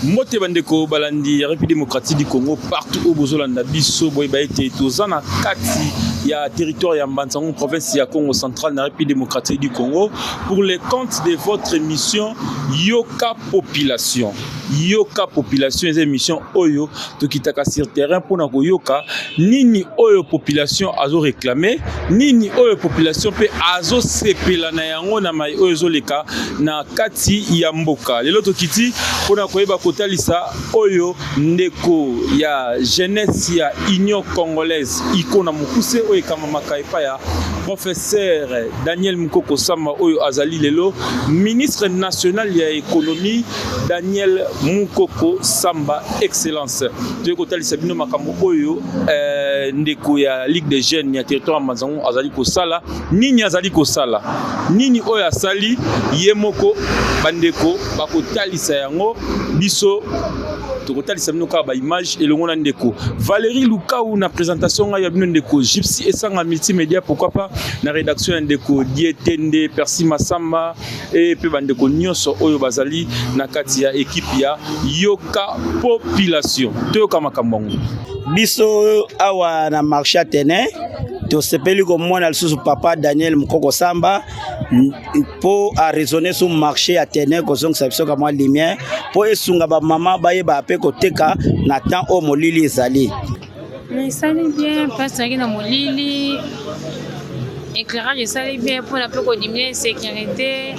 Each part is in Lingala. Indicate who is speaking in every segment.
Speaker 1: mbote bandeko balandi ya république démocratique du congo partout oyo bozolanda biso boyeba ete toza na kati ya territoire ya mbansango province ya congo central na république démocratique du congo pour le compte de votre émission yoka population yoka population eza émission oyo tokitaka sur terrain mpo na koyoka nini oyo population azo réclame nini oyo population mpe azosepela na yango na mai oyo ezoleka na kati ya mboka lelo tokiti mpo na koyeba kotalisa oyo ndeko ya jeunesse ya union congolaise iko na mokuse oyo ekamamaka epai ya professeur daniel mukoko sama oyo azali lelo ministre national ya économie Daniel Mukoko Samba Excellence toyei kotalisa bino makambo oyo eh, ndeko ya Ligue des Jeunes ya territoire ya Manzango azali kosala nini azali kosala nini oyo asali ye moko bandeko bakotalisa yango biso tokotalisa bino kaka baimage elongo na ndeko valérie lukau na présentation ngai ya bino ndeko gypsy esanga multimédia pourquoi pas na rédaction ya ndeko dietende persi masamba et pe bandeko nyonso oyo bazali na kati ya ekipe ya yoka population toyoka makambo yango biso
Speaker 2: awa na marché atene tosepeli komona lisusu papa daniel mokoko samba mpo araisonne sur marché ya tene kozongisa biso ka mwa lumière mpo esunga bamama bayeba mpe koteka na temps oyo molili ezali esali
Speaker 3: bien place nazalaki na molili éclairage esali bien mpona mpe kodiminue insécurité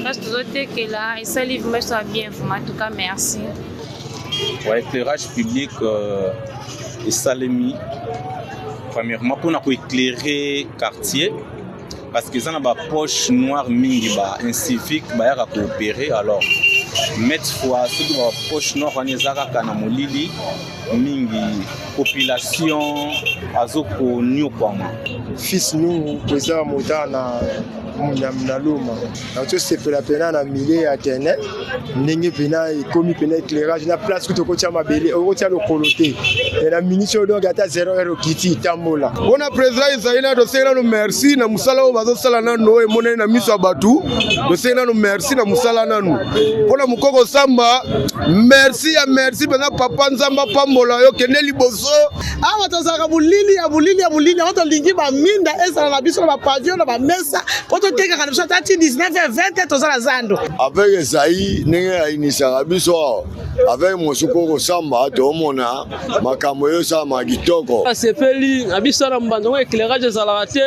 Speaker 3: place tozotekela esali vrima biso ya bien vrima en tout cas merci
Speaker 4: wa éclairage public euh, esalemi premièrement mpona koéclaire quartier parce que eza na ba poche noire mingi ba incivique bayaka koopere alors mete fois soki ba poche noire wana eza kaka na molili mingi population azokonyokwama fils nungu
Speaker 5: eza motana na loma tozosepela mpena na milieu ya terrain ndenge mpena ekomi mpena éclairage na place kutu okotya mabele okotya lokolo te e na miniti oyo donc ata 0 heure okiti tambola mpona président ezali
Speaker 6: na toseki nano merci na mosala oyo bazosala nano oyo emonani na miso ya bato toseki nano merci na mosala nano mpona mokoko samba merci ya merci mpenza papa nzambe apambola yo kende liboso awa tozalaka
Speaker 7: molili ya molili ya molili yango tolingi baminda ezala na biso na bapavio na bamesa mpo totekaka na biso ata ti 19 20 toza na zando avec ezai
Speaker 8: ndenge ayinisaka biso awa avec mosuku kosamba tomona makambo eyosalama kitoko asepeli na
Speaker 9: biso na mbanda ngo éclairage ezalaka te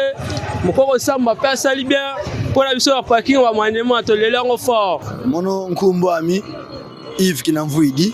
Speaker 9: mokoko samba mpe asali bien mpo na biso ya parking wa manema toleli yango fort mono nkumbu
Speaker 10: ami ive kinamvuidi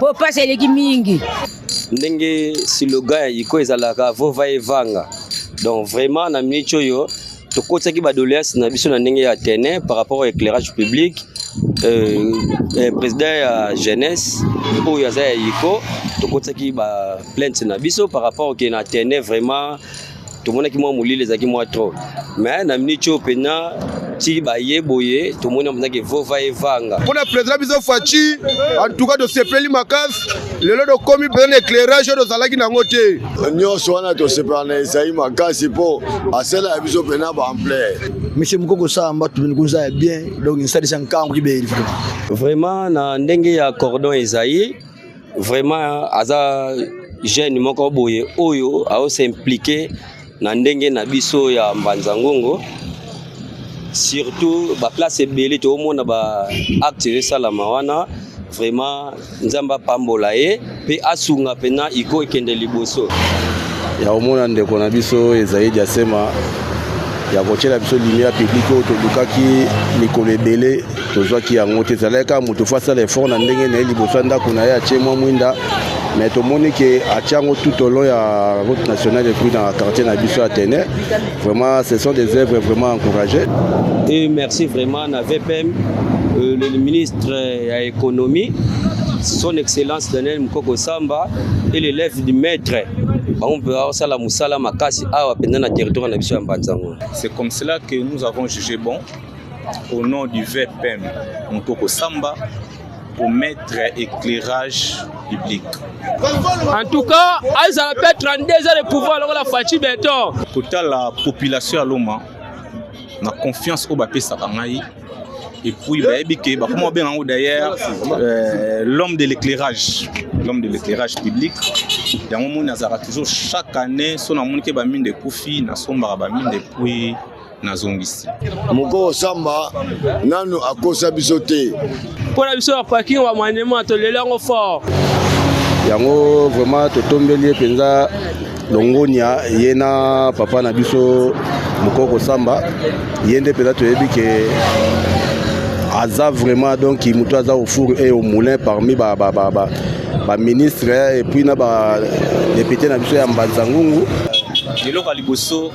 Speaker 11: po pasi eleki mingi ndenge
Speaker 12: siloga ya iko ezalaka vova evanga donc vraiment na miniti oyo tokotisaki badoleance na biso na ndenge ya tene par rapport au éclairage public euh, euh, président ya jeunesse oyo aza ya iko tokotisaki baplainte na biso par rapport ke na tene vraiment tomonaki mwa molili ezalaki mwa trop mais na miniti oyo mpena ti baye boye tomoni mpenza ke vova evanga mpo na président biso
Speaker 6: faci antuka tosepeli makasi lelo tokomi mpenza na éclairage oyo tozalaki nango te nyonso wana
Speaker 8: tosepela na ezali makasi mpo asala ya biso mpena baampleur monsieur mokoko
Speaker 10: samba tumini kunza ya bien donc nsalisa nkango kibeli vraiment
Speaker 12: na ndenge ya cordon ezayi vraiment aza jeune moko boye oyo aosimplike na ndenge na biso ya mbanza ngongo surtout baplace ebele toomona baacte ezosalama wana vraiment nzambe apambola ye mpe asunga mpena iko ekende liboso ya
Speaker 13: komona ndeko na biso ezali diasema ya kotyela biso lumière publique oyo tolukaki mikolo ebele tozwaki yango te ezalaki kaka moto fo asala effort na ndenge na ye liboso ya ndako na ye atie mwa mwinda me tomoni ke atia yango tout au long ya route nationale epuis na quartier na biso ya tene vraiment ce sont des œuvres vraiment encouragées et
Speaker 12: merci vraiment na vpm euh, le ministre ya économie son excellence daniel mukoko samba et l'élève du maître bango mpe bakosala mosala makasi awa mpenza na territoire na biso ya mbanzango c'est comme cela
Speaker 4: que nous avons jugé bon Au nom du VPM Mukoko Samba pour mettre éclairage public. En
Speaker 9: tout cas, ils ont fait 32 ans de pouvoir lokola Fatshi Beton. Kota la
Speaker 4: population à Loma na confiance au bapesaka ngai et puis bayebi ke bakoma babenga yango d'ailleurs euh, l'homme de l'éclairage l'homme de l'éclairage public yango moni azalaka toujours chaque année so namoni ke baminde ekufi nasombaka baminde epuis nazongisi mokolo samba
Speaker 8: nanu akosa biso te mpo na biso ya
Speaker 9: parking wa manema toleli yango fort yango
Speaker 13: vraiment totombeli ye mpenza longonia ye na papa na biso mokoko samba ye nde mpenza toyebi ke aza vraiment donc moto aza au four et au moulin parmi ba, ba, ba, ba, ba ministre et puis na ba député na biso ya mbanza ngungu eloko ya
Speaker 4: liboso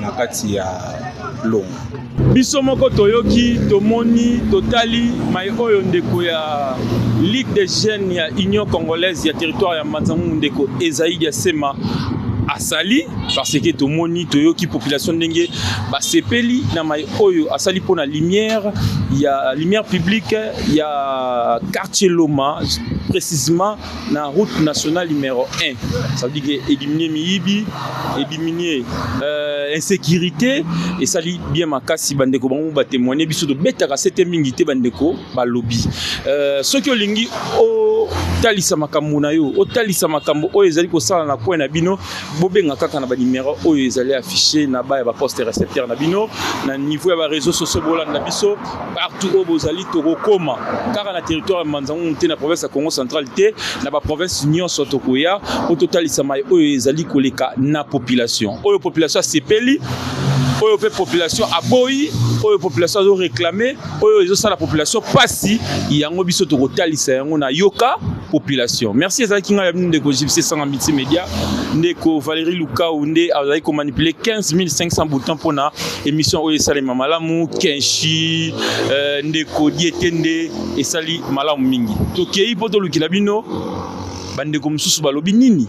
Speaker 4: na kati ya longo. Biso
Speaker 1: moko toyoki, tomoni, totali mai oyo ndeko ya Ligue des jeunes ya Union congolaise ya territoire ya Manzangungu ndeko Esaïe Diasema asali parce que tomoni toyoki population ndenge basepeli na mai oyo asali mpo na lumière ya lumière publique ya quartier Loma précisément na route nationale numero 1 ça veut dire que éliminer miyibi éliminer euh, insécurité esali bien makasi bandeko bango batémoigne biso tobetaka sete mingi te bandeko balobi euh, soki olingi o otalisa makambo na yo otalisa makambo oyo ezali kosala na coin na bino bobenga kaka na banimero oyo ezali affiché na baya baposte recepteur na bino na niveau ya bareseau sociaux bolanda biso partout oyo bozali tokokoma kaka na territoire ya manzangungu te na province ya congo central te na baprovince nyonso tokoya mpo totalisa mai oyo ezali koleka na population oyo population asepeli oyo mpe population aboyi oyo population azo réclame oyo ezosala population mpasi yango biso tokotalisa yango na yoka population merci ezalaki ngai ya bino ndeko gypsy sanga multimédia ndeko valérie lukau nde azalaki komanipule 15500 bouton mpona Emission oyo esalema malamu Kenshi euh, ndeko Dietende esali malamu mingi. Tokei mpo tolukela bino bandeko mosusu balobi nini